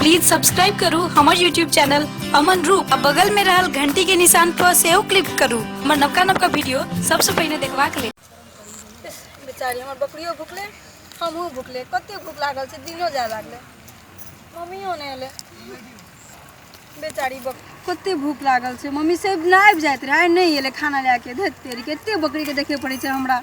Please subscribe करू हमर YouTube channel Aman Roop आ बगल में रहल घंटी के निशान पर सेहो क्लिक करू हमर नवका नवका वीडियो सबसे पहिने देखबाक लेल बेचारी हमर बकरियो भुकले हमहूँ भुकले कते भूख लागल छै दिनो जाय लागलै मम्मियो नहि एलै बेचारी बक कते भूख लागल छै मम्मी से ना आबि जाइत रहै आइ नहि एलै खाना लए के धैत तेरी कते बकरीके देखे पड़ै छै हमरा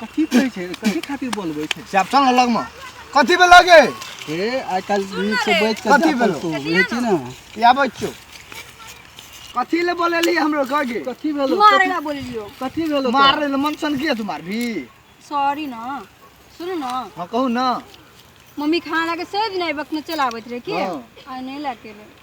कथी कहै छै कथी खातिर बोलबै छै चैप्टर अलग में कथी भेल लगे हे आइ काल्हि नीक से बैठ के कथी भेलो? तू बुझै छी ने या बच्चो कथी ले बोलेली हमरो गगे कथी भेलो मारे ला बोलियो कथी भेलो मार रे मनसन के तुम्हार भी सॉरी ना सुनू ना हां कहू ना मम्मी खाना के सही दिन आबक न चलाबैत रहे के हाँ। आ नहीं लाके रहे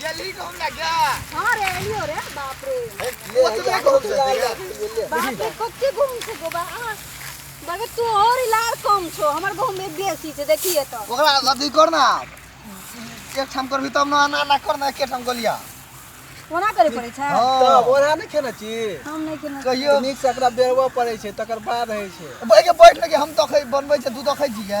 जल्दी घूम ना क्या हाँ रे एलियो रे बाप रे वो तो मैं घूम सकते हैं बाप रे कब के घूम से गोबा आ बाबे तू और लाड़ कम छो हमर गांव में बेसी छे देखिए तो ओकरा अथी कर ना एक ठाम करबी तब ना ना ना कर ना एक ठाम गोलिया कोना करे पड़े छै हां बोरा नहीं खेना छी हम नहीं खेना कहियो नीक से एकरा बेरवा पड़े छै तकर बाद है छै बैठ बैठ लगे हम तो खै बनबै छै तू तो खै जिया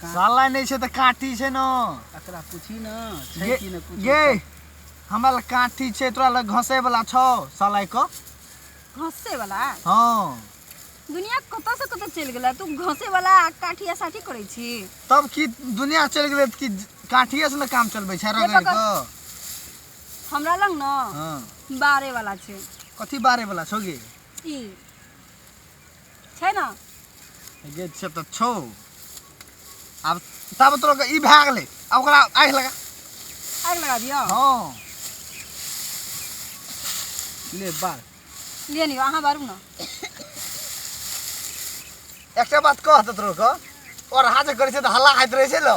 साला नहीं छे तो काठी छे ना एकरा पूछी ना छे ये- कि ना कुछ ये हमरा लग काठी छे तोरा लग घसे वाला छो साला को घसे वाला हाँ दुनिया कत से कत चल गेला तू घसे वाला आ काठी आ साठी करे छी तब की दुनिया चल गए कि काठिए से ना काम चलबे छे रगड़ पकड़। को हमरा लग न हाँ बारे वाला छे कथी बारे वाला छो गे ई छै ना जे छै तऽ छौ आब तब तोरा के ई भए गेलै आ ओकरा आगि लगा आग लगा दियो हँ ले बार ले लियो अहाँ बारू ना एकटा बात कह तऽ तोरा के और हाथ करै छै तऽ हल्ला हाथ रहै छै लो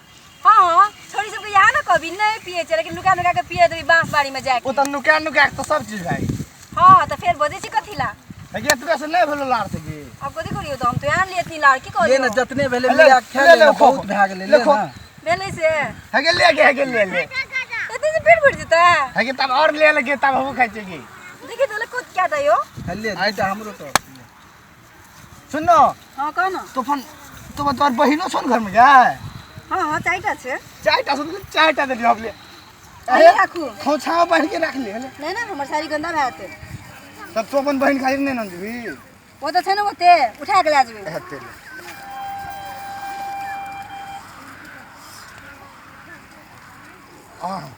हाँ हाँ छोरी सबके यहाँ ना कभी नहीं पिए छे लेकिन नुका नुका के पिए देबी बांस बाड़ी में जाके ओ त नुका नुका के त सब चीज भाई हाँ तो फिर बजे छी कथी ला लेकिन तू कैसे नहीं भेलो लार सके अब कथी करियो तो हम तो यहाँ लिए तीन लाड़ की ले ना करियो जतने भेले ले, लिया खेल ले, ले, ले, खो, बहुत खो। भए गेलै ले, ले खो। ना भेले से हगे ले गे हगे ले ले इतने से पेट भर देता है हगे तब और ले लगे तब हम खाइ छी की देखिए तो लोग को क्या था यो ले आई त हमरो त सुन न हाँ कह ना तो अपन तो अपन तोहर बहिनो छौ ने घरमे गाय हाँ हाँ चारिटा छै चारिटा छौ तऽ चारिटा देलियै हम ले अरे राखू खोछामे बान्हि के राख ले हले नहि ने हमर साड़ी गन्दा भए जेतै तब तो अपन बहिन खातिर नहि ने देबी ओ तऽ छै ने ओते उठा के लए जेबै हेतै ले आह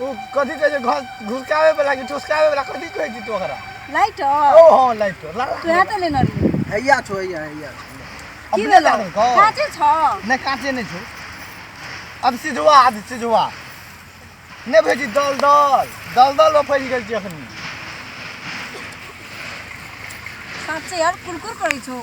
ओ कथी कहै छै घस घुसकावे वाला कि ठुसकावे वाला कथी कहै छी तू ओकरा लाइट ओ हां लाइट ला ला तोरा त लेने रही हैया छो हैया हैया की अपने भेलो जानो को काचे छ नहीं काटे नहीं छो अब सिझवा अब सिझवा नहीं भेजी दल दल दल दल में फैल गेल छी अखनी साँच्चै यार कुरकुर करै छौ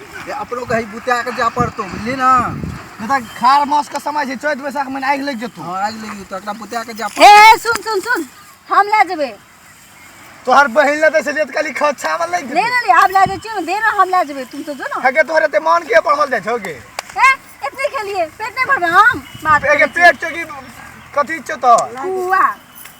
अपनो कहीं बुता के जा पड़तो बुझली ना नहीं तो खार मास का समय है चैत बैसाख में आग लग जतो हां आग लग जतो एकरा बुता के जा ए सुन सुन सुन हम ले जेबे तोहर बहिन ले देसे लेत काली खा छावल ले ले ले हम ले जेबे ना दे ना हम ले जेबे तुम तो जो ना हके तोहरे ते मान के पढ़ल जाय छोगे ए इतने खेलिए पेट नहीं भरना हम बात पेट चोगी कथी चतो कुआ